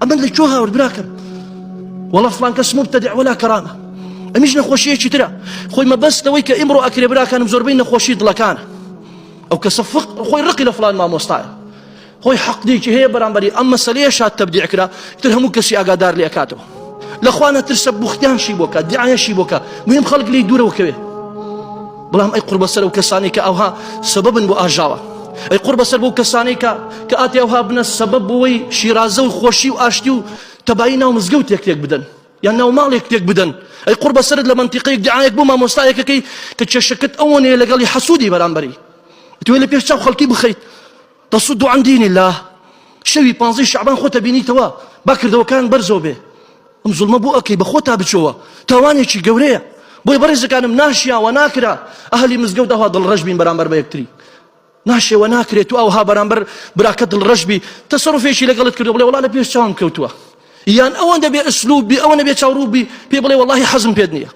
ئەمن لە کۆ هاورد براکەم وەڵە فلان کەس مبتدع ولا کەرامە ئەمیش نەخۆشیەکی ترە خۆی مەبەستەوەی کە ئیمڕۆ ئەکرێ براکانم زۆربەی نەخۆشی دڵەکانە ئەو کەسە فق خۆی ڕقی لە فلان مامۆستایە خۆی حەقدێکی هەیە بەرامبەری ئەم مەسلەیە شاد تەبدیعکرا تر هەموو کەسی ئاگادار لێ کاتەوە لەخوا نەترسە بوختیانشی بۆکە دیعاەشی بۆکە مهم خەڵک لی دوورەوە کەوێت بەڵام ئەی قوربەسەر و کەسانی کە ئەوها سەبەبن بۆ ئاژاوە ئەی قوربەسەر بۆ کەسانی کە کە ئاتی ئەوها بنە سەبەب بۆەوەی شیرازە و خۆشی و ئاشتی و تەبایی ناو مزگەوت تێک تێک بدەن یان ناو ماڵێک تێک بدەن ئەی قوربەسەرت لە منتیقەیەک دیعاەک بۆ مامۆستایەکەکەی کە کێشەکەت ئەوەنەیە لەگەڵی حەسوودی بەرامبەری توێ لە پێش چاو خەڵکی بخەیت تصد عن دین اللە شەوی پانزەی شەعبان خۆت ئەبینیتەوە با کردەوەکان بەرزەوە بێ ئەم زوڵمە بۆ ئەکەی بە خۆتا بچەوە تاوانێکی گەورەیە بۆی بەڕێزەکانم ناشیاوە ناکرا ئەهلی مزگەوت ئەوها دڵڕەش بین بەرامبەر بە یەکتری ناشێوە ناکرێت و ئەوها بەرامبەر براکە دڵڕەش بی تەسەڕفێکی لەگەڵت کردو بڵێ وڵا لە پێش چاوم کەوتووە یان ئەوەندە بێ ئەسلوب بی ئەوەنە بێ چاوڕوو بی پێ بڵێ وەڵی حەزم پێت نییە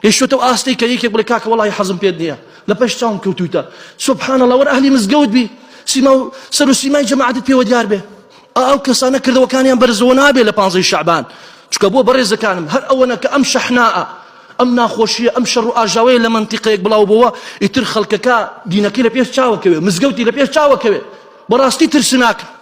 گەیشتۆتە و ئاستێک کە یەکێک بڵێ کاکە وەڵاهی حەزم پێت نییە لە پێش چاوم کەوتوویتە سبحان اللە وەر ئەهلی مزگەوت بی سیما و سەر و سیمای جەماعەتت پێوە دیار بێ ئاو کەسانە کردەوەکانیان بەرزەوە نابێ لە پانزەی شەعبان چکە بۆ بەڕێزەکانم هەر ئەوەنە کە ئەم شەحناء ئەم ناخۆشیە ئەم شەڕ و ئاژاوەیە لە منتیقەیەک بڵاو بۆوە ئیتر خەڵکەکە دینەکەی لە پێش چاوەکەوێ مزگەوتی لە پێش چاوەکەوێ بەڕاستی ترسناکە